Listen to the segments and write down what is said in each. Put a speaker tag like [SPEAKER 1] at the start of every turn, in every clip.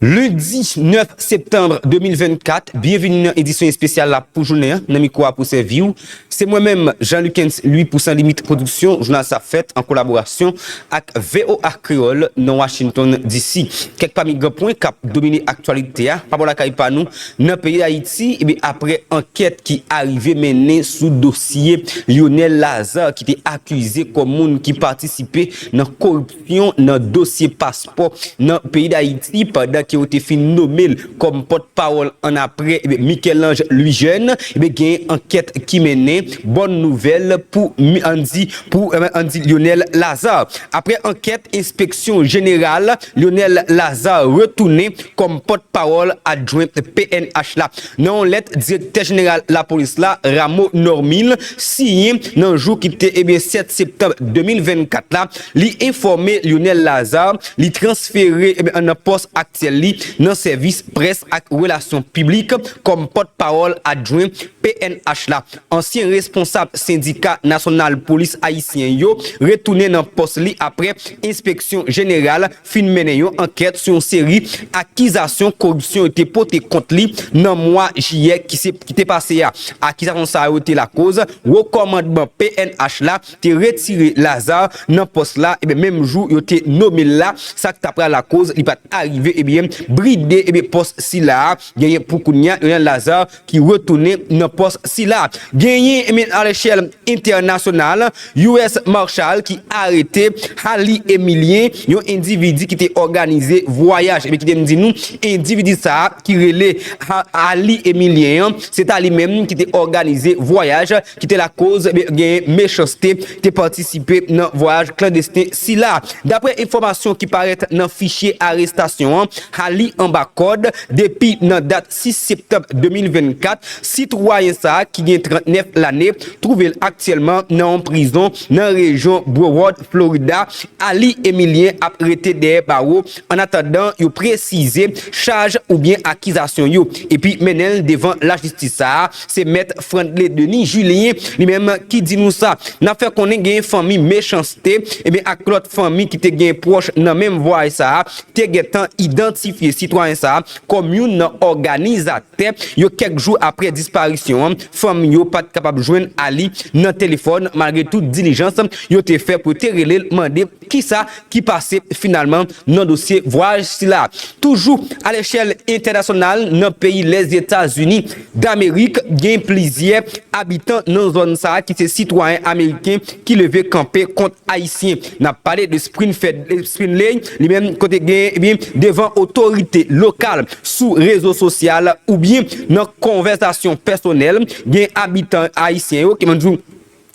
[SPEAKER 1] Lendi 9 septanbre 2024, byenvini nan edisyon espesyal la pou jounen an, nan mikwo a pou sèvi w, se mwen menm Jean Lukens Louis pou San Limit Production, jounal sa fèt an kolaborasyon ak voa Kreyol nan Washington DC. Kèk pami gran pwen kap domine aktyalite a pa bò lakay pa nou nan peyi Dayiti, ebyen aprè ankèt ki arive mennen sou dosye Lyonel Lazarre ki te akize kòm moun ki patisipe nan koripsyon. yon nan dosye paspò nan peyi Dayiti pandan ke yo te fin nome l kòm pòt pawòl annapre Michel-Ange Louis-Jeune ebyen gen ankèt ki mennen bòn nouvèl pou Andy pou Andy Lionel Lazarre aprè ankèt enspeksyon jeneral Lionel Lazarre retounen kòm pòt pawòl adjwen pnh la nan yon lèt direktè jeneral lapolis la Rameau Normil siyen nan jou ki te ebyen 7 septanm 2024 la Li enfòme Lyonel Lazarre li transfere nan pòs aktyèl li nan sèvis près ak relasyon piblik kòm pòt pawòl adjwen pnh la. Ansyen responsab sendika nasyonal polis ayisyen yo retounen nan pòs li aprè enspeksyon jeneral fin mennen yon ankèt sou yon seri akizasyon koripsyon yo te pote kont li nan mwa jiyè ki te pase a. Akizasyon sa yo te lakoz wo kòmandman pnh la te retire Lazar nan pòs la ebyen menm jou yo te nome l la sak ta pral lakoz li pat arive ebyen bride ebyen pòs sila a genyen pou kounya yon Lazar ki retounen nan pòs sila genyen ebyen alechèl entènasyonal US Marshal ki arete Hally Emilien yon endividi ki te òganize vwayaj ebyen kite m di nou endividi sa ki rele Hally Emilien an se ta li menm ki te òganize vwayaj ki te lakoz genyen mechanste, te patisipe nan vwayaj klandesten sila. Daprè enfòmasyon ki parèt nan fichye arestasyon an, a li anba kòd, depi nan dat 6 septanm 2024, sitwayen sa a ki gen 39 lane, twouve l aktyèlman nan yon prizon nan rejyon Broward, Florida, a li Emilien ap rete dèyè bawo annatandan yo presize chaj oubyen akizasyon yo epi mennen l devan lajistis sa a. Se mèt Frandley Denis Julien li menm ki di nou sa. Nan fè konnen genyen fanmi Mechanste ebyen ak lòt fanmi ki te genyen pwòch nan menm vwayè sa a te gentan idantifye sitwayen sa a kòm youn nan òganizatè yo kèk jou aprè disparisyon an fanmi yo pat kapab jwenn Aly nan telefòn malgre tout dilijans yo te fè pou yo te rele l mande Kisa ki pase finalman nan dosye vwayaj sila? Toujou alechèl entènasyonal nan peyi Lèzetazini Damerik gen plizyè abitan nan zòn sa ki se sitwayen ameriken ki leve kanpe kont ayisyen. Nap pale de Sprinfed Sprinley li menm kote gen ebyen devan otorite lokal sou rezo sosyal oubyen nan konvèsasyon pèsonèl gen abitan ayisyen yo ki mande yo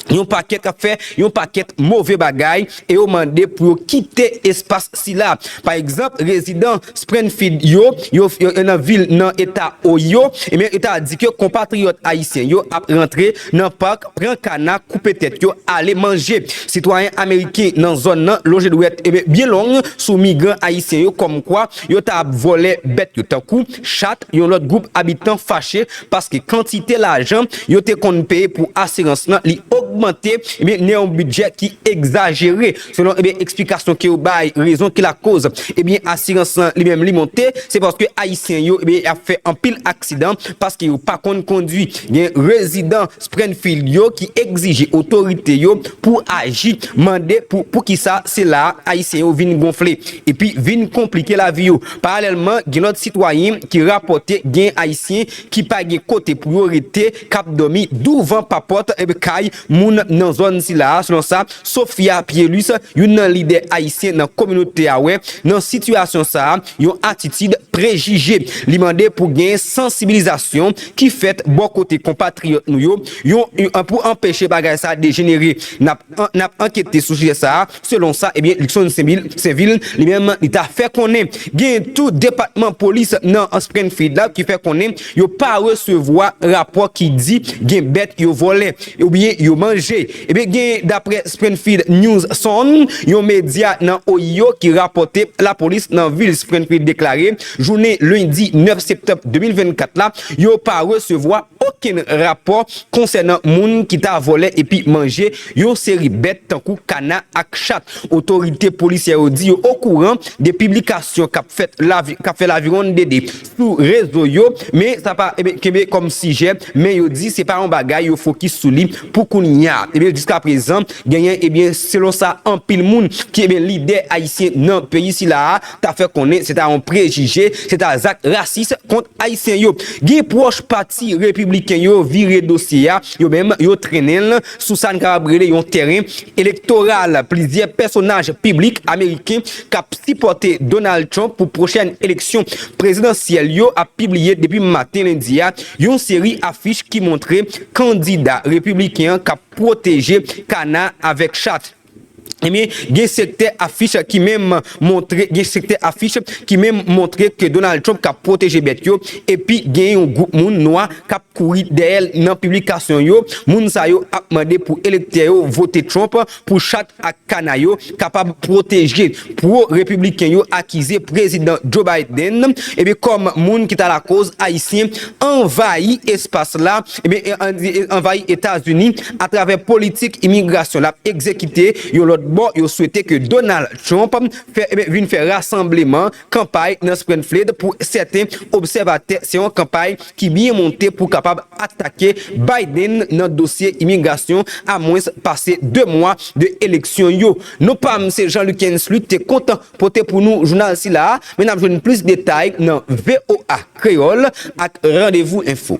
[SPEAKER 1] yon pakèt ap fè yon pakèt move bagay e yo mande pou yo kite espas sila. Pa egzanp, rezidan Sprenfid yo, yo nan vil nan eta Ohio, ebyen yo ta di ke konpatriyòt ayisyen yo ap rantre nan pak, pran kana, koupe tèt yo, ale manje. Sitwayen ameriken nan zòn nan lonje dwèt byen long sou migran ayisyen yo kòmkwa yo ta ap vòlè bèt yo tankou Chat, yon lòt gwoup abitan fache paske kantite lajan yo te konn peye pou asirans lan li ogmante nan yon bidjè ki egzajere. Selon eksplikasyon ke yo bay rezon ki lakoz asirans lan li menm li monte se paske ayisyen yo ap fè anpil aksidan paske yo pa konn kondwi. Gen rezidan Sprenfield yo ki egzije otorite yo pou aji, mande pou poukisa se la ayisyen yo vin gonfle epi vin konplike lavi yo. Paralèlman, gen lòt sitwayen ki rapòte gen Ayisyen ki pa gen kote pou yo rete, k ap dòmi douvan papòt kay moun nan zòn sila a, selon sa Sophia Pielus, youn nan lidè Ayisyen nan kominote a wè nan sitiyasyon sa a, yon atitid prejije. Li mande pou gen sansibilizasyon ki fèt bò kote konpatriyòt nou yo pou anpeche bagay sa a dejenere. N ap ankete sou sijè sa a. Selon sa ebyen Luckson Sainvil li menm li ta fè konnen, gen tou depatman polis nan Springfield la ki fè konnen yo pa resevwa rapò ki di gen bèt yo vòlè oubyen yo manje. Ebyen gen daprè Springfield News Sun, yon medya nan Ohio ki rapòte lapolis nan vil Springfield deklare jounen lendi 9 septanm 2024 la yo pa resevwa okenn rapò konsènan moun ki ta vòlè epi manje Yon seri bèt tankou kana ak chat. Otorite polisyè yo di yo okouran de piblikasyon k ap fèt k ap fè lavironnede sou rezo yo, men sa pa kenbe kòm sijè, men yo di se pa yon bagay yo fokis sou li pou kounya. Jiskaprezan genyen selon sa anpil moun ki lidè ayisyen nan peyi sila a ta fè konnen se ta yon prejije, se ta zak rasis kont ayisyen yo. Gen pwòch pati repibliken yo vire dosye a, yo menm yo trennen l. sou sa n kapab rele yon tèren elektoral plizyè pèsonaj piblik ameriken k ap sipòte Donald Trump pou pwochèn eleksyon prezidansyèl yo ap pibliye depi maten lendi a yon seri afich ki montre kandida repibliken an k ap pwoteje kana avèk chat. Ebyen, gen sektè afich ki menm montre gen sektè afich ki menm montre ke Donald Trump ka pwoteje bèt yo epi gen yon gwoup moun nwa k ap kouri dèyè l nan piblikasyon yo, moun sa yo ap mande pou elektè yo vote Trump pou chat ak kana yo kapab pwoteje. Pwo-Repibliken yo akize Prezidan Joe Biden ebyen kòm moun ki ta lakoz Ayisyen anvayi espas la. Ebyen Indi anvayi Etazini atravè politik imigrasyon lap egzekite, yon lòt bò yo swete ke Donald Trump fè vin fè rasanbleman, kanpay nan Sprenfled pou sèten obsèvatè se yon kanpay ki byen monte pou kapab atake Biden nan dosye imigrasyon a mwens pase 2 mwa de eleksyon yo. Non pam se Jean Luckens Luc te kontan pote pou nou jounal sila a men nap jwenn plis detay nan voa Kreyòl ak Randevou Enfo.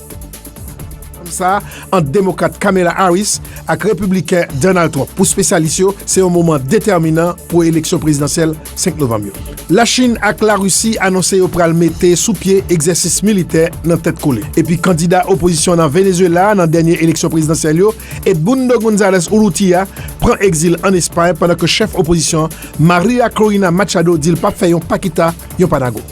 [SPEAKER 2] Rankonm sa a ant Demokrat Kamala Harris ak Repibliken Donald Trump pou spesyalis yo se yon moman detèminan pou eleksyon prezidansyèl 5 novanm yo. Lachin ak Larisi anonse yo pral mete sou pye egzèsis militè nan tèt kole. Epi kandida opozisyon nan Venezuela nan dènye eleksyon prezidansyèl yo, Edmundo Gonzalez Urrutia pran egzil an Espay pandan ke chèf opozisyon an Maria Corina Machado di l pap fè yon pa kita, yon pa nago.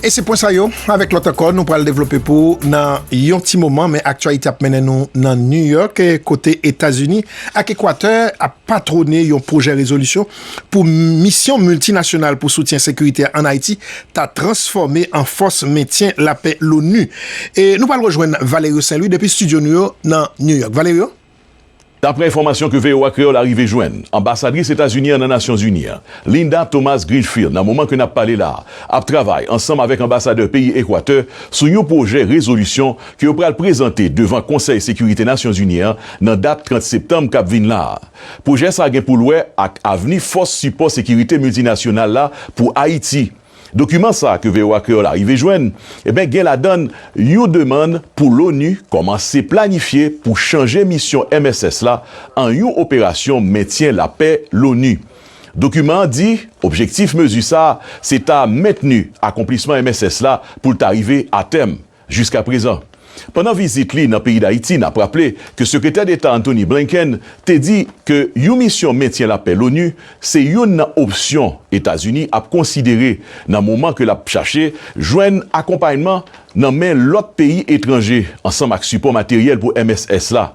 [SPEAKER 2] E se pwen sa yo, avèk lòt ankò nou pral devlope pou ou nan yon ti moman, men aktyalite ap mennen nou nan New York kote Etazini ak Ekwatè ap patwone yon pwojè rezolisyon pou Misyon Miltinasyonal pou Soutyen Sekirite ann Ayiti ta transfòme an Fòs Mentyen Lapè l'ONU. E nou pral rejwenn Valerio Saint-Louis depi stidyo nou yo nan New York. Valerio? Daprè
[SPEAKER 3] enfòmasyon ke voa Kreyòl arive jwenn, anbasadris Etazini an nan Nasyon Zini an, Linda Thomas-Greenfield nan moman ke nap pale la a, ap travay ansanm avèk anbasadè peyi Ekwatè sou yon pwojè rezolisyon ke yo pral prezante devan Konsèy Sekirite Nasyon Zini an nan dat 30 Septanm kap vinn la a. Pwojè sa gen pou l wè ak avni Fòs Sipò Sekirite Miltinasyonal la pou Ayiti. Dokiman sa ke voa Kreyol arive jwenn eben gen ladann yon demann pou l'ONU kòmanse planifye pou chanje misyon mss la an yon operasyon mentyen lapè l'ONU. Dokiman an di objektif mezi sa se ta mentni akonplisman mss la pou l ta rive a tèm. Jiska prezan. Pandan vizit li nan peyi Dayiti, n ap raple ke Sekretè Deta Antony Blinken te di ke yon misyon mentyen lapè l'ONU se youn nan opsyon Etazini ap konsidere nan moman ke l ap chache jwenn akonpayman nan men lòt peyi etranje ansanm ak sipò materyèl pou mss la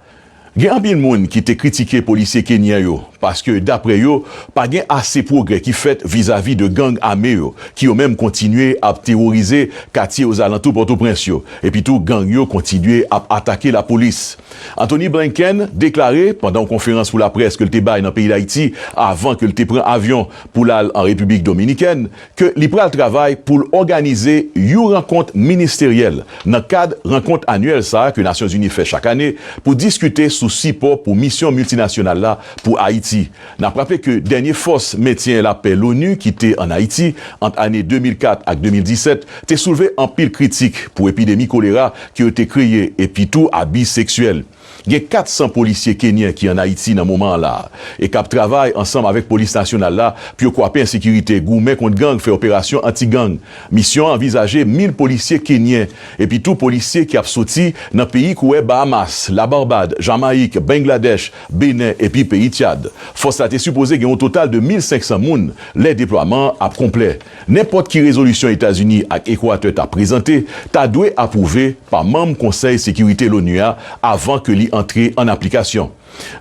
[SPEAKER 3] Gen anpil moun ki te kritike polisye Kenyan yo paske dapre yo pa gen ase pwogrè ki fèt vizavi de gang ame yo ki yo menm kontinye ap teworize katye ozalantou Pòtoprens yo epi tou gang yo kontinye ap atake lapolis. Antony Blinken deklare pandan yon konferans pou laprès ke l te bay nan peyi Dayiti avan ke l te pran avyon pou l al an Repiblik Dominikèn ke li pral travay pou l òganize you rankont ministeryèl nan kad rankont anyèl sa a ke Nasyonzini fè chak ane pou diskite sou sipò pou Misyon Miltinasyonal la pou Ayiti. N ap raple ke dènye fòs mentyen lapè l'ONU ki te ann Ayiti ant ane 2004 ak 2017 te soulve anpil kritik pou epidemi kolera ke yo te kreye epi tou abi seksyèl Gen 400 polisye kenyen ki an Ayiti nan moman an la e k ap travay ansanm avèk polis nasyonal la pou yo kwape ensekirite, goumen kont gang, fè operasyon anti gang. Misyon an anvizaje 1,000 polisye kenyen epi tou polisye ki ap soti nan peyi kouwè Bahamas, Labarbad, Jamayik, Bengladèch, Benen epi peyi Tyad. Fòs la te sipoze gen yon total de 1,500 moun lè deplwaman an ap konplè. Nenpòt ki rezolisyon Etazini ak Ekwatè ta prezante ta dwe apwouve pa manm Konsèy Sekirite l'ONU a avan ke li antre an aplikasyon.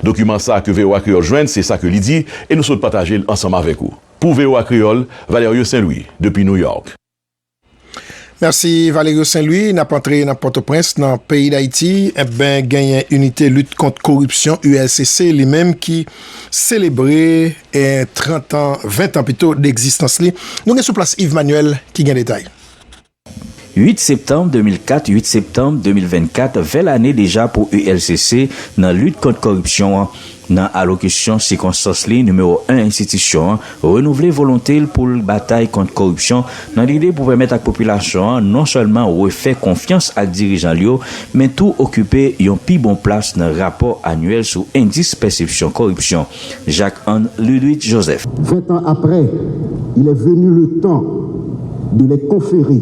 [SPEAKER 3] Dokiman sa ke voa Kreyòl jwenn se sa ke li di e nou sot pataje l ansanm avèk ou. Pou voa Kreyòl, Valerio Saint-Louis, depi New York.
[SPEAKER 2] Mèsi Valerio Saint Louis, nap antre nan Pòtoprens nan peyi Dayiti enben genyen Inite lit kont koripsyon, ULCC, li menm ki selebre 30 an, 20 an pito degzistans li, nou gen sou plas Yves Manuel ki gen detay. 8
[SPEAKER 4] septanm 2004, 8 septanm 2024, 20 lane deja pou ULCC nan lit kont koripsyon an, Nan alokisyon sikonstans li, nimewo 1 enstitisyon an renouvle volonte l pou l batay kont koripsyon nan lide pou pèmèt ak popilasyon an non sèlman refè konfyans ak dirijan l yo, men tou okipe yon pi bon plas nan rapò anyèl sou endis pèsepsyon koripsyon Jacques Anne Ludwig Joseph. Vent an aprè,
[SPEAKER 5] il est venu le temps de les conférer.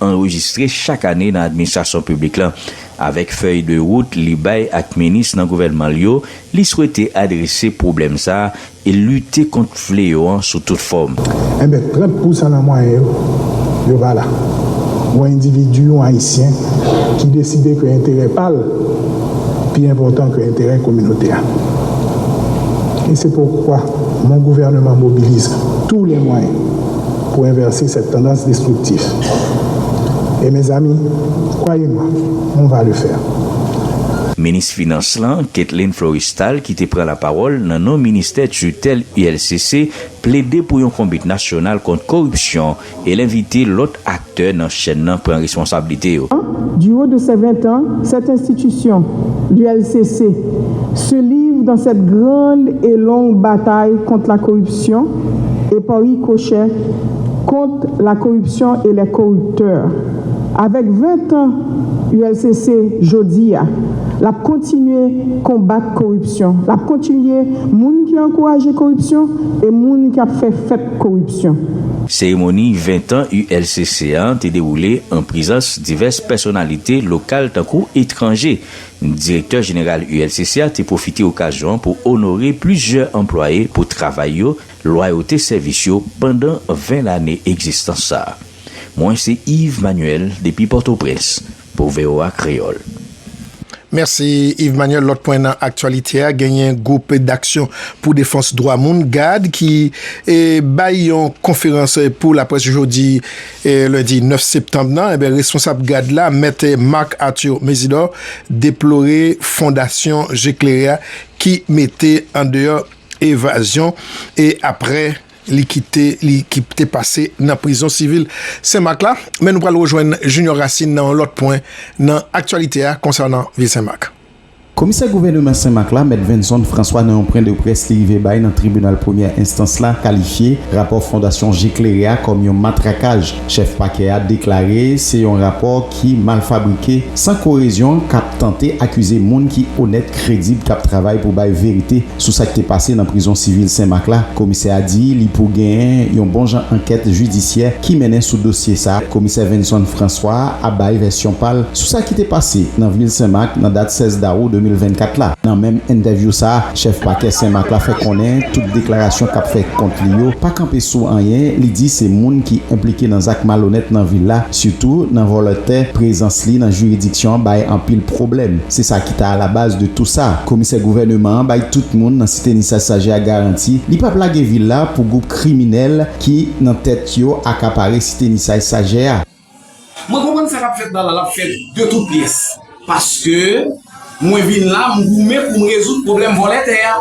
[SPEAKER 4] anrejistre chak ane nan administrasyon piblik la. Avèk fèy de wout li bay ak minis nan gouvènman l yo, li swete adrese pwoblèm sa a e lite kont fleyo an sou tout fòm. Enben, 30
[SPEAKER 6] pou san nan mwayen yo, yo pa la. Yon endividi, yon Ayisyen, ki deside ke enterè pa l pi enpòtan ke enterè kominote a. E se poukwa, mon gouvèneman mobilize tou le mwayen. Pou envèse sèt tandans destriktif. E mezanmi, kwaye mwa, on va le faire. Minis
[SPEAKER 4] Finans lan, Ketlein Florestal ki te pran lapawòl nan non ministè tutèl ULCC plede pou yon konbit nasyonal kont koripsyon e l envite lòt aktè nan chèn nan pran responsablite yo. Du haut de
[SPEAKER 7] ses 20 ans, cette institution, l'ULCC, se livre dans cette grande et longue bataille contre la corruption, epaw rikochet kont la koripsyon e lè koriptè avèk 20 tan ulcc jodia lap kontinye konbat koripsyon lap kontinye moun ki ankouraje koripsyon e moun ki ap fè fèt koripsyon. Seremoni 20
[SPEAKER 4] tan ulcc an te dewoule an prezans divès pèsonalite lokal tankou etranje Direktè jeneral ULCC a te pwofite okazyon an pou onore plizyè anplwaye pou travay yo, lwayote sèvis yo pandan 20 lane egzistans sa a. Mwen se Yves Manuel depi Pòtoprens pou voa Kreyòl. Mèsi
[SPEAKER 2] Yves Manuel. Lòt pwen nan aktyalite a, genyen gwoup daksyon pou defans dwa moun, gad, ki bay yon konferans pou laprès jodi. Lendi 9 septanm nan, responsab gad la, mèt Marc Arthur Mésidor, deplore fondasyon Je Klere a ki mete an deyò evazyon e aprè li kite li ki te pase nan prizon sivil Sen Mak la. Men nou pral rejwenn Junior Racine nan yon lòt pwen nan aktyalite a konsènan vil Sen Mak. Komisè
[SPEAKER 8] gouvèneman Senmak la, Mèt Venson François nan yon pwen de près li rive bay nan tribinal premyè enstans la kalifye rapò fondasyon je klere a kòm yon matrakaj chèf pakè a deklare se yon rapò ki mal fabrike san korezyon kap tante akize moun ki onèt kredib kap travay pou bay verite Sou sa k te pase nan prizon sivil Senmak la, komisè a di li pou genyen yon bon jan ankèt jidisyè ki mennen sou dosye sa. Komisè Venson François a bay vèsyon pa l sou sa ki te pase nan vil Senmak nan dat 16 dawou 2024 la. Nan menm entèvyou sa, chèf pakè Senmak la fè konnen tout deklarasyon k ap fèt kont li yo pa kanpe sou anyen li di se moun ki enplike nan zak malonèt nan vil la, sitou nan vòlè tè. Prezans li nan jiridiksyon an bay anpil pwoblèm, se sa. ta alabaz de tou sa. Komisè gouvèneman an bay tout moun nan site Nissasaje a garanti li pap lage vil la pou gwoup kriminèl ki nan tèt yo akapare site Nisay Sajè a.
[SPEAKER 9] Mwen konprann sa kap fèt la la lap fèt de tout pyès paske mwen vin la m goumen pou m rezoud pwoblèm vòlè tè a.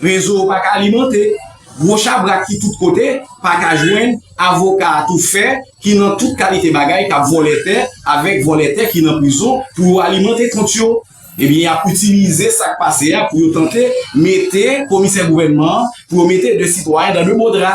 [SPEAKER 9] Rezo yo paka alimante Gwo chabrak ki tout kote, pa ka jwenn, avoka a tou fè, ki nan tout kalite bagay, k ap vòlè tè, avèk vòlè tè ki nan prizon, pou yo alimante kont yo. Ebyen, y ap itilize sa k pase a pou yo tante mete komisè gouvènman an, pou yo mete de sitwayen dan de mo dra.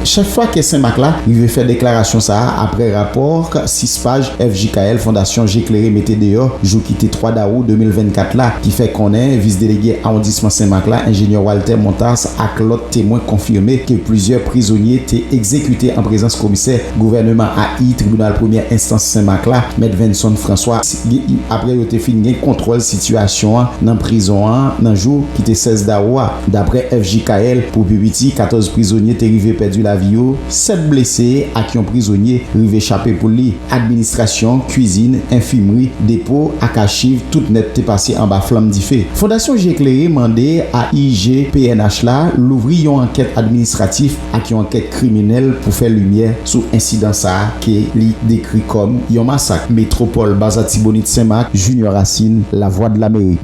[SPEAKER 9] Chèf Pakè
[SPEAKER 8] Senmak la rive fè deklarasyon sa a aprè rapò 6 paj FJKL Fondasyon Je Klere mete deyò jou ki te 3 dawou 2024 la ki fè konnen Vis Delege Awondisman Senmak la Enjenyè Walter Montas ak lòt temwen konfime ke plizyè prizonye te egzekite an prezans komisè gouvèneman AI tribinal premyè enstans Sen Mak la, Mèt Venson François, apre yo te fin gen kontwòl sitiyasyon an nan prizon an nan jou ki te 16 dawou a. Daprè FJKL, pou pi piti 14 prizonye te rive pèdi lavi yo, 7 blese ak yon prizonye rive chape pou li. Administrasyon, kuizin, enfimri, depo ak achiv tout nèt te pase anba flanm dife. Fondasyon Je Klere mande AIG pnh la louvri yon ankèt administratif ak yon ankèt kriminèl pou fè limyè sou ensidan sa a ke li dekri kòm yon masak. Metropole Baza Tibonit Senmak, Junior Racine, Lavwadlamerik.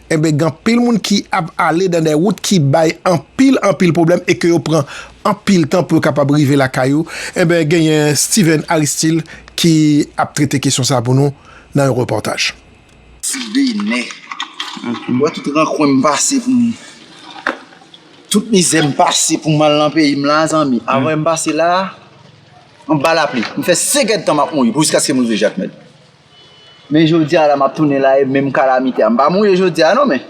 [SPEAKER 2] Enben gen anpil moun ki ap ale dan dè wout ki bay anpil anpil pwoblèm e ke yo pran anpil tan pou yo kapab rive lakay ou. Enben genyen Steven Aristil ki ap trete kesyon sa pou nou nan yon repòtaj. Ti Benè.
[SPEAKER 10] Ou wè tout rankwen m pase pou m, tout mizè m pase pou m al nan peyi m la zanmi. Avwe m pase la, anba lapli. M fè 5 èdtan m ap mouri pou jiskaske m rive Jakmèl. Men jodi a la map tounen la e menm kalamite a. M pa mouye jodi a non men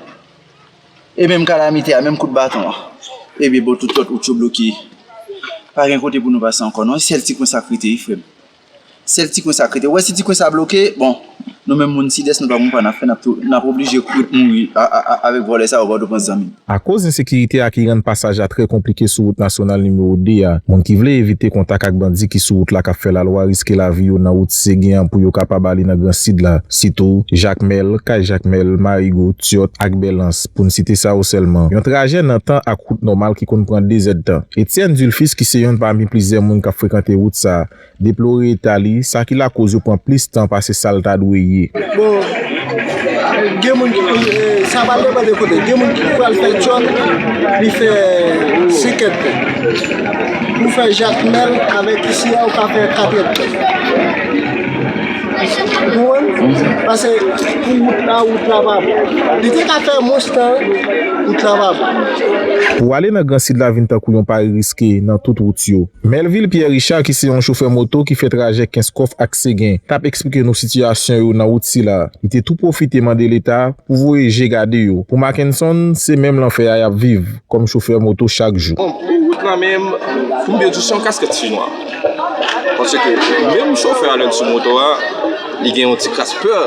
[SPEAKER 10] e menm kalamite a, menm kout baton an. E byen bon tout lòt wout yo bloke. Pa gen kote pou nou pase ankò non. E sèl ti kwen sa k rete wi frè m. Sèl ti kwen sa k rete. Ou wè si ti kwen sa bloke, bon nou menm moun sidès nou pa konn pa n ap fè, n ap oblije kouri mouri avèk vòlè sa yo, Pòtoprens zanmi m. Akoz ensekirite
[SPEAKER 11] a ki rann pasaj la trè konplike sou wout nasyonal nimewo 2 a, moun ki vle evite kontak ak bandi ki sou wout la k ap fè lalwa riske lavi yo nan wout Segen an pou yo kapab ale nan Gran Sid la, sitou, Jakmèl, Kay Jakmèl, Marigo, Tyòt ak Bèlans, pou n site sa yo sèlman. Yon trajè nan tan ak wout nòmal ki konn pran dezèdtan. Etienne Dulfis ki se yonn pami plizyè moun k ap frekante wout sa, Deplore eta li, sa ki lakoz yo pran plis tan pase sa l ta dwe ye. Bon,
[SPEAKER 12] gen moun ki pral, sa va depann de kote, gen moun ki pral fè djòl, li fè 5 èd tan. Pou w fè Jakmèl avèk isi a, ou ka fè 4 èd tan. Ou konprann? Pase pou wout la, wout la pa bon. Li te ka fè mwens tan, wout la pa bon. Pou
[SPEAKER 11] ale nan Gran Sid la vin tankou yon pari riske nan tout wout yo. Melvil Pierre Richard ki se yon chofè moto ki fè trajè Kenskòf ak Segen t ap eksplike nou sitiyasyon yo nan wout sila. Li te tou pwofite mande leta pou voye je gade yo. Pou Mackenson, se menm lanfè a y ap viv kòm chofè moto chak jou. Bon, pou wout la menm,
[SPEAKER 13] m byen di se yon kaskèt chinois. Paske menm chofè a lè l sou moto a. Li gen yon ti kras pè,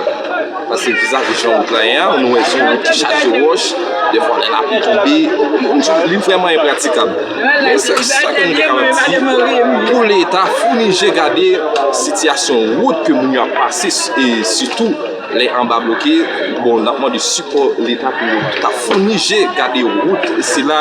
[SPEAKER 13] paske vizaj li jan wout la ye a, nou wè son wout ki chaje wòch, defwa lè lapli tonbe, li vrèman enpratikab. Men sa ke nou te kapab di, pou leta founi je gade sitiyasyon wout ke moun yo ap pase, e sitou lè anba bloke, bon n ap mande sipò leta pou ta founi je gade wout sila.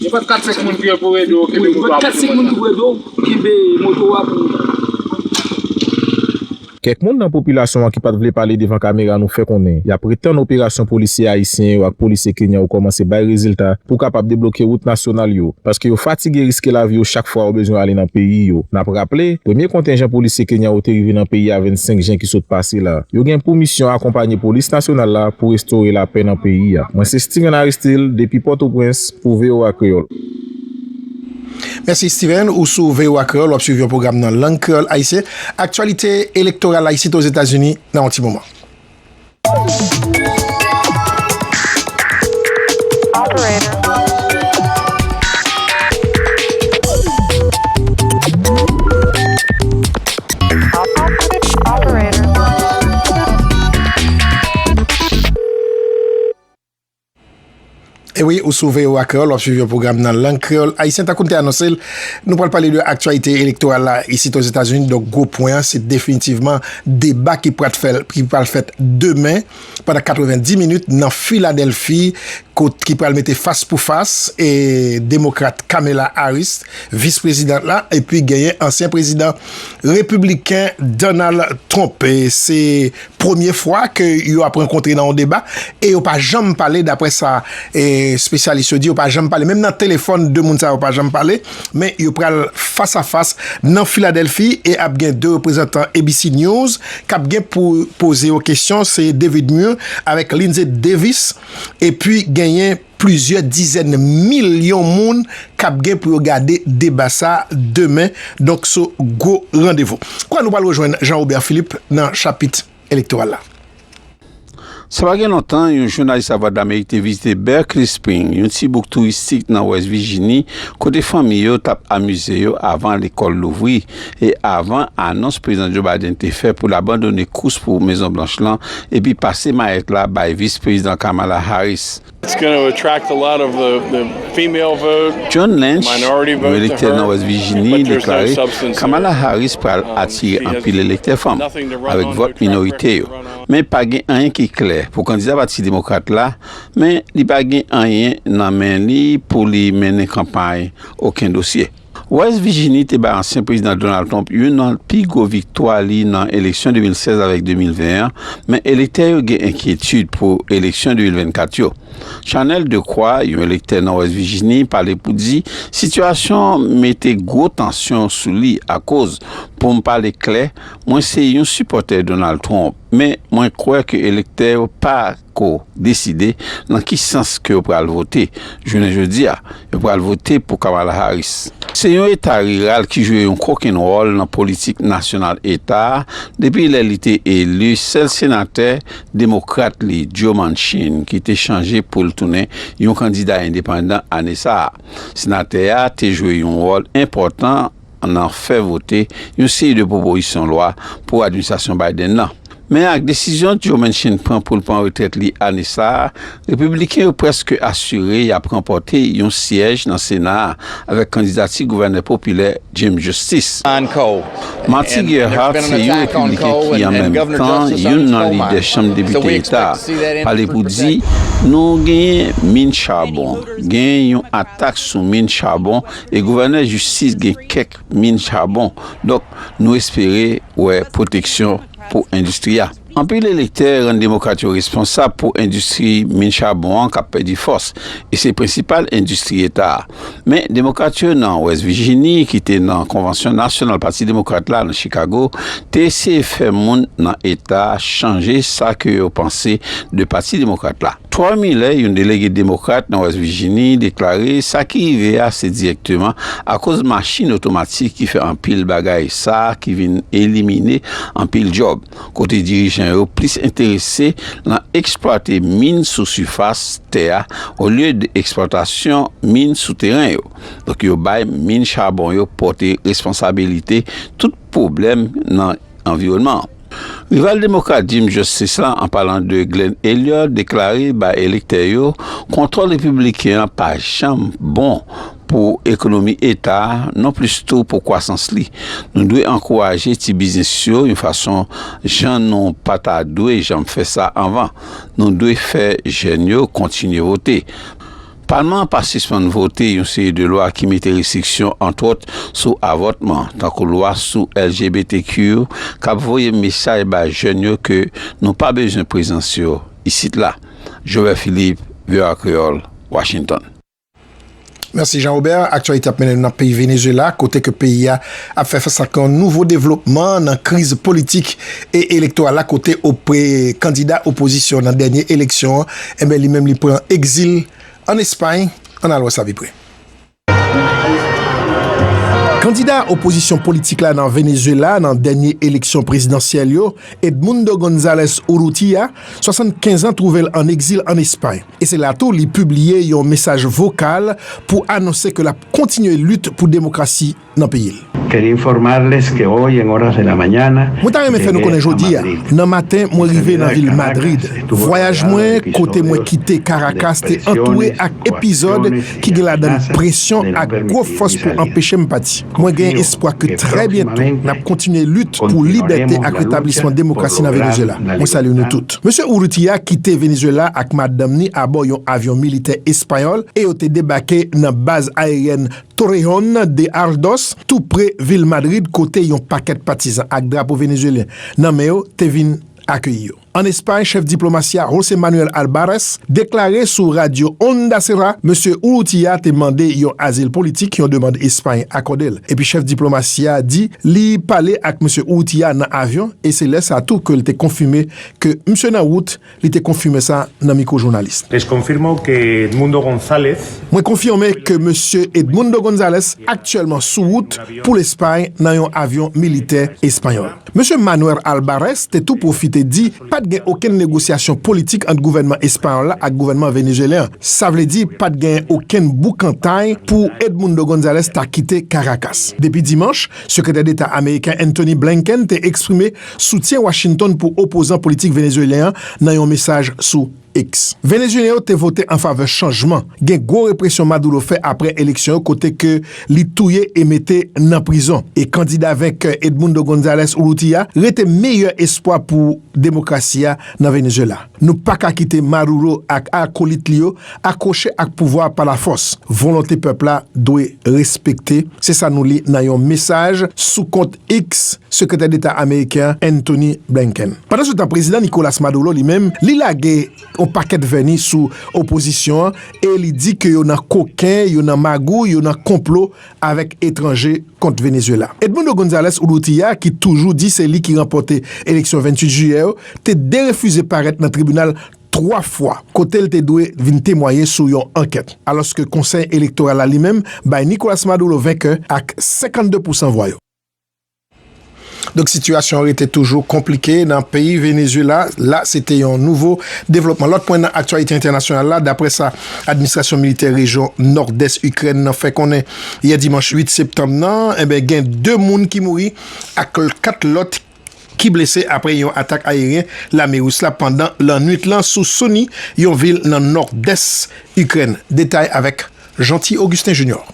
[SPEAKER 14] Gen pat 4 5 moun ki pou ede w kenbe moto a pou moun
[SPEAKER 11] nan. Kèk moun nan popilasyon an ki pat vle pale devan kamera nou fè konnen yap ret tann operasyon polisye ayisyen yo ak polisye kenyan yo kòmanse bay rezilta pou kapab debloke wout nasyonal yo paske yo fatige riske lavi yo chak fwa yo bezwen ale nan peyi yo. Nap raple, premye kontenjan polisye kenyan yo te rive nan peyi a 25 jen ki sot pase la. Yo gen pou misyon akonpanye Polis Nasyonal la pou restore lapè nan peyi a. Mwen se Steven Aristil depi Pòtoprens pou voa Kreyòl.
[SPEAKER 2] Mèsi Steven, ou sou voa Kreyòl wap swiv yon pwogram nan lang kreyòl ayisyen. Aktyalite elektoral ayisyen ozetazini nan yon ti moman. E wi, ou sou VOA Kreyòl, w ap swiv yon pwogram nan lang kreyòl ayisyen. Tankou n te anonse l, nou pral pale de aktyalite elektoral la isit Ozetazini. Donk, gwo pwen an, se definitivman deba ki pral fèt demen pandan 90 minit nan Filadelfi kot ki pral mete fas pou fas e demokrat Kamala Harris, vis prezidant la, epi genyen ansyen prezidan repibliken Donald Trump. Se premye fwa ke yo ap rankontre nan yon deba e yo pa janm pale dapre sa espesyalis yo di, yo pa janm pale, menm nan telefòn 2 moun sa yo pa janm pale. Men yo pral fas a fas nan Filadelfi e ap gen 2 reprezantan ABC News k ap gen pou poze yo kesyon, se David Muir avèk Linsey Davis. Epi genyen plizyè dizèn milyon moun k ap gen pou yo gade deba sa demen, donk se gwo randevou. Kouwè nou pral rejwenn Jean Robert Philippe nan chapit. elektoral la.
[SPEAKER 15] Sa pa gen lontan, yon jounalis Lavwadlamerik te vizite Berkeley Spring, yon ti bouk touristik nan Wès Vijini, kote fanmi yo t ap amize yo avan lekòl louvri e avan anons Prezidan Joe Biden te fè pou l abandone kous pou Mezon Blanch lan epi pase mayèt la bay Vis Prezidan Kamala Harris.
[SPEAKER 16] John Lynch,
[SPEAKER 15] yon elektè
[SPEAKER 16] nan West
[SPEAKER 15] Virginie, deklare Kamala Harris pral atire anpil elektè fanm avèk vòt minorite yo. Men pa gen anyen ki klè pou kandida Pati Demokrat la, men li pa gen anyen nan men li pou li mennen kanpay oken dosye. West Virginie te bay ansyen Prezidan Donald Trump youn nan pi gwo viktwa li nan eleksyon 2016 avèk 2020 an, men elektè yo gen enkyetid pou eleksyon 2024 yo. Chanel Decroix, yon elektè nan West Virginie, pale pou di, Sitiyasyon an mete gwo tansyon sou li akoz, pou m pale klè, mwen se yon sipòtè Donald Trump, men mwen kwè ke elektè yo pa. ko deside nan ki sans ke yo pral vote. Jounen jodi a, yo pral vote pou Kamala Harris. Se yon eta riral ki jwe yon kokenn wòl nan politik nasyonal eta a depi lè li te eli sèl senatè demokrat li, Joe Manchin, ki te chanje pou l tounen yon kandida endepandan ane sa a. Senatè a te jwe yon wòl enpòtan. nan fè vote yon seri de pwopoizsyon lwa pou administrasyon Biden nan. Men ak desizyon Joe Manchin pran pou l pran retrèt li ane sa a, Repibliken yo prèske asire y ap ranpòte yon syèj nan Sena a avèk kandidati gouvènè popilè Jim Justice. Marty Gerhart se yon Repibliken ki an menm tan youn nan lidè Chanm Depite Eta a, pale pou di, Nou genyen min chabon. Genyen yon atak sou min chabon E gouvènè jistis gen kèk min chabon, donk nou espere wè pwoteksyon pou endistri a. Anpil elektè rann demokrat yo responsab pou endistri min chabon an k ap pèdi fòs, e se prensipal endistri eta a. Men demokrat yo nan West Vijini ki te nan konvansyon nasyonal pati demokrat la nan Chikago te eseye fè moun nan eta chanje sa ke yo panse de pati demokrat la. Troy Miller, yon delege Demokrat nan West Virginie, deklare sa ki rive a se direkteman akoz machin otomatik ki fè anpil bagay sa ki vin elimine anpil djòb, kote dirijan yo plis enterese lan eksplwate min sou sifas tè a olye de eksplwatasyon min sou teren yo. Donk yo bay min chabon yo pote responsabilite tout pwoblèm nan anviwònman an. Rival Demokrat Jim Justice la, an palan de Glenn Elliott, deklare bay elektè yo kontwòl Repibliken an pa janm bon pou ekonomi eta a, non plis tou pou kwasans li. Nou dwe ankouraje ti biznis yo yon fason jan nou pa ta dwe janm fè sa anvan. Nou dwe fè jèn yo kontinye vote. Palman an pa sispann vote yon seri de lwa ki mete restriksyon, antwòt, sou avòtman, tankou lwa sou LGBTQ yo, k ap voye mesaj bay jèn yo ke nou pa bezwen prezans yo isit la. Joël Philippe, voa Creole, Washington.
[SPEAKER 2] Mèsi Jean Robert. Aktyalite ap mennen nou nan peyi Venezuela kote ke peyi a ap fè fas ak yon nouvo devlopman nan kriz politik e elektoral la kote ope kandida opozisyon nan dènye eleksyon an Enben li menm li pran egzil ann Espay, ann alòs la vi pre. Kandida opozisyon politik la nan Venezuela nan dènye eleksyon prezidansyèl yo, Edmundo Gonzalez Urrutia, 75 an twouve l ann egzil ann Espay. E se la tou li pibliye yon mesaj vokal pou anonse ke l ap kontinye lit pou demokrasi. nan peyi l.
[SPEAKER 17] Mwen ta renmen fè nou konnen
[SPEAKER 2] jodi a nan maten mwen rive nan vil Madrid. Vwayaj mwen kote mwen kite Karakas te antoure ak epizòd ki gen ladan l presyon ak gwo fòs pou anpeche m pati. Mwen gen espwa ke trè byento n ap kontinye lit pou libète ak retablisman demokrasi nan Venezyela. Mwen salye nou tout. Mesye Urrutia kite Venezyela ak madanm ni abò yon avyon militè espayòl e yo te debake nan baz ayeryèn Torreón de Ardoz, tou pre vil Madrid kote yon pakèt patizan ak drapo venezuelyen nan men yo te vin akeyi yo. An Espay, chèf diplomasi a, José Manuel Albares, deklare sou radyo Onda Cero Mesye Urrutia te mande yon azil politik, yon demand Espay akòde l. Epi chèf diplomasi a di li pale ak Mesye Urrutia nan avyon e se lè sa tou ke l te konfime ke misye nan wout Li te konfime sa nan mikwo jounalis. Les confirmo que
[SPEAKER 18] Edmundo Gonzalez. Mwen konfime
[SPEAKER 2] ke Mesye Edmundo Gonzalez aktyèlman sou wout pou Lespay nan yon avyon militè espanyòl. Mesye Manuer Albares te tou pwofite di pa t gen okenn negosyasyon politik ant gouvènman espanyòl la ak gouvènman venezuelyen an. Sa vle di pa t gen okenn boukantay pou Edmundo Gonzalez ta kite Karakas. Depi dimanch, Sekretè Deta ameriken Antony Blinken te eksprime Soutyen Washington pou opozan politik Venezuelyen an nan yon mesaj sou X. Venezuelyen yo te vote an favè chanjman, gen gwo represyon Maduro fè aprè eleksyon yo kote ke li touye e mete nan prizon, e kandida venkè Edmundo Gonzalez Urrutia rete meyè espwa pou demokrasi a nan Venezuela. Nou pa ka kite Maruro ak akolit li yo akwoche ak pouvwa a pa la fòs. Volonte pèp la dwe respekte, se sa nou li nan yon mesaj sou kont Eks sekretè deta ameriken an Antony Blinken. Pandan se tan prezidan Nicolas Maduro li menm li lage yon pakèt vèni sou opozisyon an e li di ke yo nan koken, yo nan magouy, yo nan konplo avèk etranje kont Venezuela. Edmundo Gonzalez Urrutia ki toujou di se li ki ranpòte eleksyon 28 jiyè yo te derefize parèt nan tribinal 3 fwa kote l te dwe vin temwaye sou yon ankèt, alòske Konsèy Elektoral la li menm bay Nicolas Maduro venkè ak 52 pousan vwa yo. Donk sitiyasyon an rete toujou konplike nan peyi Venezuela la. Se te yon nouvo devlopman. Lòt pwen nan aktyalite entènasyonal la, daprè sa administrasyon militè rejyon nòdès Ikrèn nan fè konnen yè dimanch 8 septanm nan, enben gen 2 moun ki mouri ak 4 lòt ki. ki blese apre yon atak ayeryen lame ris la pandan lannwit lan sou Soumy, yon vil nan nòdès Ikrèn. Detay avèk Jeanty Augustin Junior.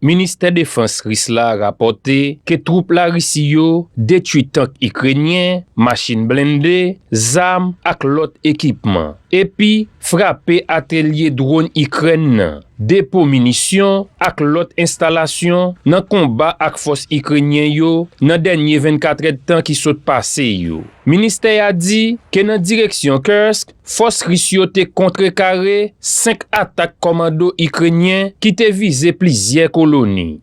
[SPEAKER 19] Ministè defans ris la rapòte ke twoup Larisi yo detwi tank ikrenyen, machin blende, zam ak lòt ekipman. epi frape atelye dronn Ikrèn nan, depo minisyon ak lòt enstalasyon nan konba ak fòs Ikrenyen yo nan dènye 24 èdtan ki sot pase yo. Ministè a di ke nan direksyon Kursk, fòs Ris yo te kontrekare 5 atak kòmando Ikrenyen ki te vize plizyè koloni.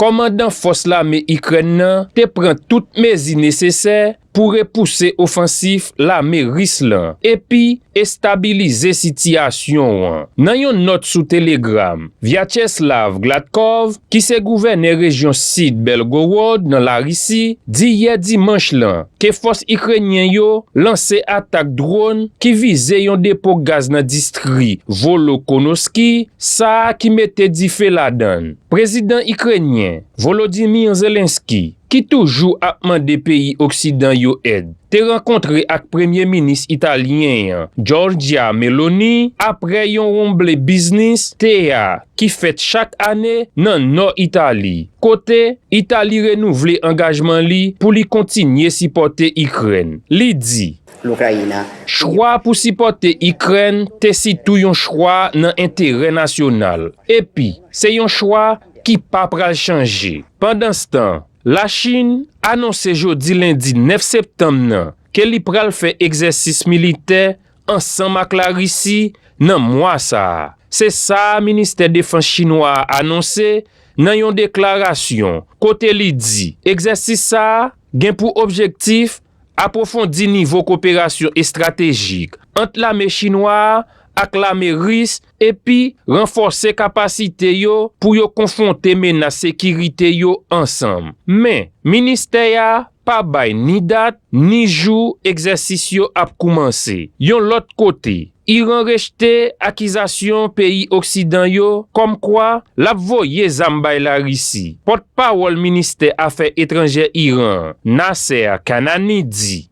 [SPEAKER 19] Kòmandan fòs lame Ikrèn nan te pran tout mezi nesesè pou repouse ofansif lame Ris lan epi estabilize sitiyasyon an. Nan yon nòt sou Telegram, Vyacheslav Gladkov, ki se gouvènè rejyon sid Belgorod nan Larisi, di yè dimanch lan ke fòs Ikrenyen yo lanse atak dron ki vize yon depo gaz nan distri Volokonosky sa ki mete dife ladan. Prezidan Ikrenyen, Volodymyr Zelensky, ki toujou ap mande peyi oksidan yo èd, te rankontre ak Premye Minis Italyen an, Giorgia Meloni, apre yon wonmble biznis, tea, ki fèt chak ane nan nò Itali, kote Itali renouvle angajman li pou li kontinye sipòte Ikrèn. Li di. Lokrayina.
[SPEAKER 20] Chwa pou
[SPEAKER 19] sipòte Ikrèn te sitou yon chwa nan enterè nasyonal, epi se yon chwa ki pa pral chanje. Pandanstan, Lachin anonse jodi lendi 9 septanm nan ke li pral fè egzèsis militè ansanm ak Larisi nan mwa sa a, se sa Ministè Defans Chinwa a anonse nan yon deklarasyon kote li di egzèsis sa a gen pou objektif Apwofondi nivo koperasyon estratejik ant lame chinwa a ak lame ris epi ranfòse kapasite yo pou yo konfwonte menas sekirite yo ansanm. Men, ministè a pa bay ni dat, ni jou egzèsis yo ap koumanse. Yon lòt kote, Iran rejte akizasyon peyi oksidan yo kòm kwa l ap voye zam bay Larisi. Pòt pawòl ministè afè etranjè Iran an, Nasser Kanani di.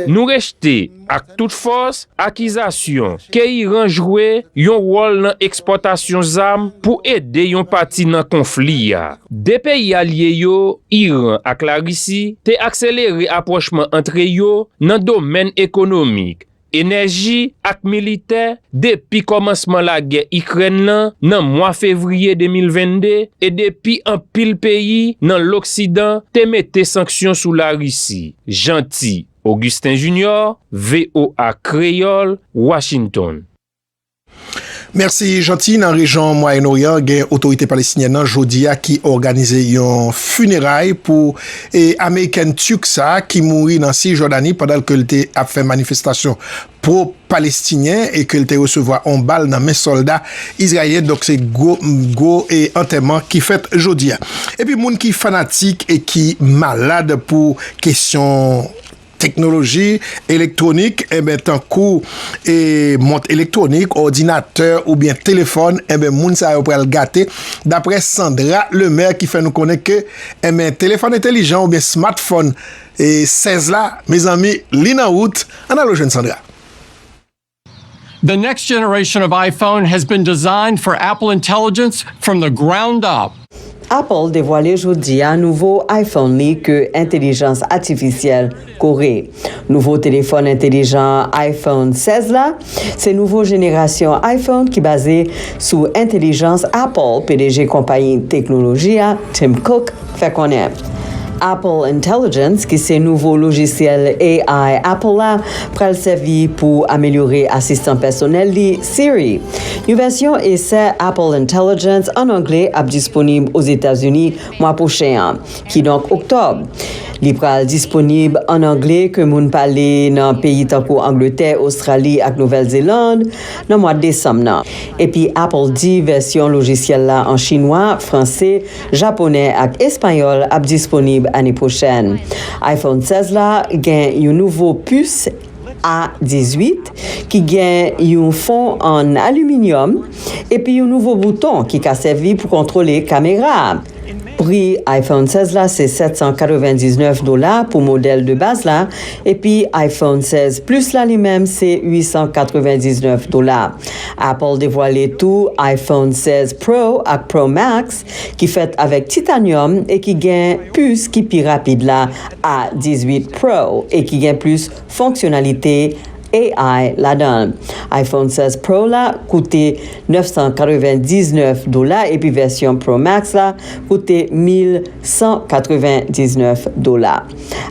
[SPEAKER 19] Nou rejte ak tout fòs akizasyon ke Iran jwe yon wòl nan ekspòtasyon zam pou ede yon pati nan konfli a. De peyi alye yo, Iran ak Larisi, te akselere apwochman antre yo nan domèn ekonomik, enèji ak militè depi kòmansman lagè Ikrèn lan nan mwa fevriye 2022 e depi anpil peyi nan loksidan te mete sanksyon sou Larisi, Jeanty Augustin Junior, voa Kreyòl, Washington.
[SPEAKER 2] Mèsi Jeanty, nan rejyon Mwayen Oryan gen otorite Palestinyèn nan jodi a ki òganize yon fineray pou amerikèn Turk sa ki mouri nan Cisjordanie pandan ke l te ap fè manifestasyon pro Palestinyen e ke l te resevwa yon bal nan men sòlda Izraelyen donk se gwo gwo antèman ki fèt jodi a. Epi moun ki fanatik e ki malad pou kesyon. Teknoloji elektwonik, enben tankou e mont elektwonik, òdinatè oubyen telefòn, enben moun sa yo pral gate, daprè Sandra Lemaire ki fè nou konnen ke enben telefòn entelijan oubyen smartphone 16 la, mezanmi li nan wout, ann al rejwenn Sandra.
[SPEAKER 20] The next generation of iPhone has been designed for Apple intelligence from the ground up. Apple devwale
[SPEAKER 21] jodi a nouvo iPhone li ke entelijans atifisyèl kore. Nouvo telefòn entelijan iPhone 16 la se nouvo jenerasyon iPhone ki baze sou entelijans Apple, pdg konpayi teknoloji a, Tim Cook, fè konnen Apple Intelligence, ki se nouvo lojisyèl AI Apple la, pral sèvi pou amelyore asistan pèsonèl li, Siri. Yon vèsyon esè Apple Intelligence, an angle, ap disponib Ozetazini mwa pwochen an, kidonk oktòb. Li pral disponib an angle ke moun pale nan peyi tankou Angletè, Ostrali ak Nouvèl Zeland nan mwa desanm nan. Epi Apple di vèsyon lojisyèl la an chinwa, franse, Japonè ak Espanyòl ap disponib ane pwochèn. Iphone 16 la gen yon nouvo pus A 18 ki gen yon fon an aliminyòm epi yon nouvo bouton ki ka sèvi pou kontwole kamera a. Pri Iphone 16 la se 799 dola pou modèl de baz la epi Iphone 16 Plus la li menm se 899 dola. Apple devwale tou iPhone 16 Pro ak Pro Max ki fèt avèk titanyòm e ki gen pis ki pi rapid la, A18 Pro, e ki gen plis fonksyonalite ai ladan l. IPhone 16 Pro la koute 999 dola epi vèsyon Pro Max la koute 1199 dola.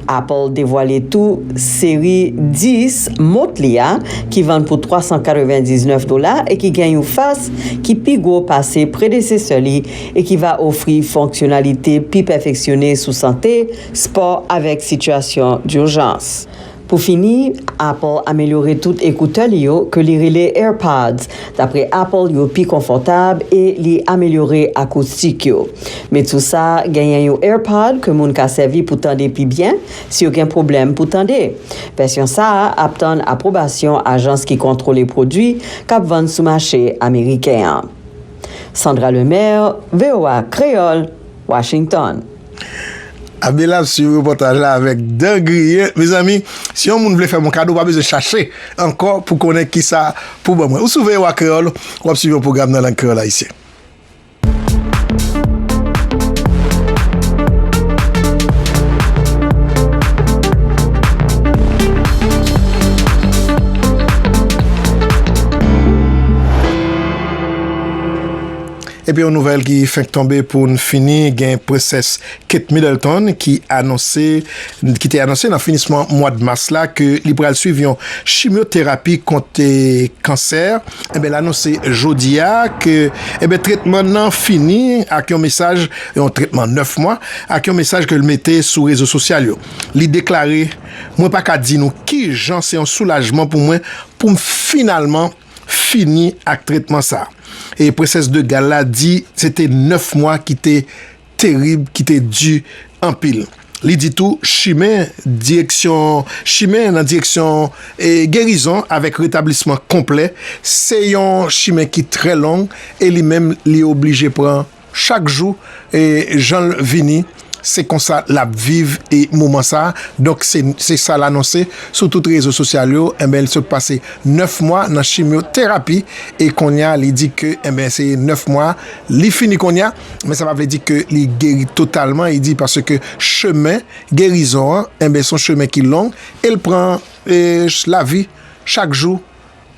[SPEAKER 21] Apple devwale tou seri 10 mont li a ki vann pou 399 dola e ki gen yon fas ki pi gwo pase predesesè li e ki va ofri fonksyonalite pi pèfeksyone sou sante, spò avèk sitiyasyon durjans. Pou fini, Apple amelyore tout ekoutè li yo ke li rele AirPods. Dapre Apple yo pi konfòtab e li amelyore akoustik yo. Met sou sa, genyen yon AirPod ke moun ka sèvi pou tande pi byen si yo gen pwoblèm pou tande. Vèsyon sa a ap tann apwobasyon ajans ki kontwole pwodwi k ap vann sou mache ameriken an. Sandra Lemaire, voa Kreyòl, Washington.
[SPEAKER 2] Abela ap swiv repòtaj la avèk dan griye. Mezanmi, si yon moun vle fè m yon kado, ou pa bezwen chache ankò pou w konnen ki sa pou w ban mwen. Ou sou voa Kreyòl, w ap swiv yon pwogram nan lang kreyòl ayisyen. Epi yon nouvèl ki fenk tonbe pou n fini, gen Prensès Kate Middleton ki anonse, ki te anonse nan finisman mwad mas la ke li pral swiv yon chimyoterapi kont kansè, enben l anonse jodi a ke enben tretman n nan fini ak yon mesaj, yon tretman 9 mwa, ak yon mesaj ke l mete sou rezo sosyal yo. Li deklare, Mwen pa ka di nou kijan se yon soulajman pou mwen pou m finalman. fini ak tretman sa e Princesse de Galles la di se te 9 mwa ki te terib, ki te di anpil. Li di tou chimen direksyon chimen nan direksyon gerizon avèk retablisman konplè se yon chimen ki trè long e li menm li oblije pran Chak jou janl vini se konsa lap viv moman sa donk se sal anonse sou tout rezo sosyal yo enben li sot pase 9 mwa nan chimyo terapi e konnya li di ke enben se 9 mwa li fini konnya men sa pa vle di ke li geri totalman li di paske chemen gerizon an enben son chemen ki long el pran lavi chak jou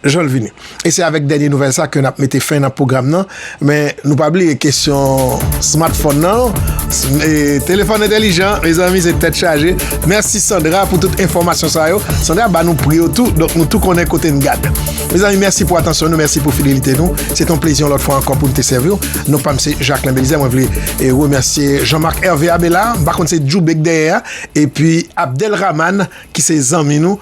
[SPEAKER 2] jan l vini. E se avèk dènye nouvèl sa ke n ap mete fen nan pwogram nan, men nou pa bliye kesyon smartphone nan, e telefòn entèlijan, mezanmi se tèt chaje. Mèsi Sandra pou tout enfòmasyon sa yo. Sandra ba nou pri yo tou, donk nou tou konnen kote n gad. Mezanmi mèsi pou atansyon nou, mèsi pou fidelite nou. Se te yon plezi yon lòt fwa ankò pou n te sèvi w. Non pa m se Jacquelin Belizaire, mwen vle remèsye Jean Marc Hervé Abela, m pa konn se Djoube k dèyè a, epi Abdelrahmane ki se zanmi nou.